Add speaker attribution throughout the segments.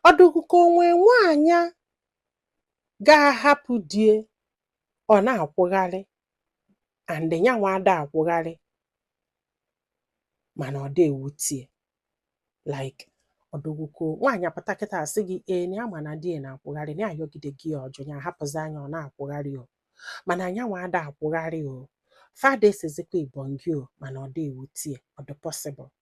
Speaker 1: ọ dị gị ka o nwe nwaanyị ga-ahapụ di ya ọ na-akwụgharị and ya nwa ada akwụgharị mana ọ dị ewute ya like ọ dị gị ka nwaanyị apụta kịta asị gị ee na ya ma na di ya na-akwụgharị na ayọgidego ya ọ jụ ya ahapụzi anya ọ na-akwụgharị o mana nya nwa ada akwụgharị o fada esizikwa ibongi o mana ọ dị ewute ya ọ dị possible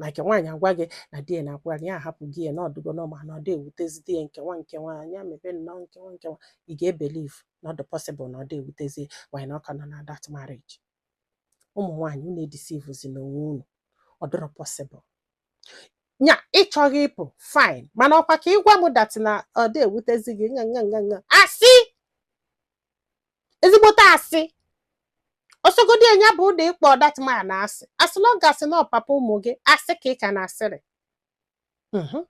Speaker 1: like nwaanyị agwa gị na di ya na-akwụgharị ya ahapụgo ya na ọ dịgo normal na ọ dị ewutezidi ya nkewa nkewa anya mebe nnọọ nkewa nkewa ị ga-ebelieve na ọ dị possible na ọ dị ewutezi ya why na ọ ka nọ na that marriage ụmụ nwaanyị unu edeceivezina onwe unu ọ dịrọ possible nya ị chọghị ịpụ fine mana ọ kwa ka ị gwa m that na ọ dị ewutezi gị nga nga nga nga asị ezigbote asị ọ sọgodi nya bụrụ na ị kpọ that man asị as long as na ọ papa ụmụ gị asị ka ị ka na-asịrị Mhm.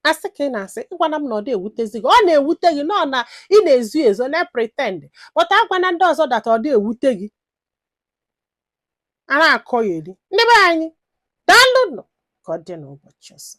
Speaker 1: asị ka ị na-asị ị gwana m na ọ dị ewutezi gị ọ na-ewute gị na ọ na ị na-ezo ezo na-epretend but agwana ndị ọzọ that ọ dị ewute gị a na-akọyeri ndị be anyị daalụnụ ka ọ dị n'ụbọchị ọzọ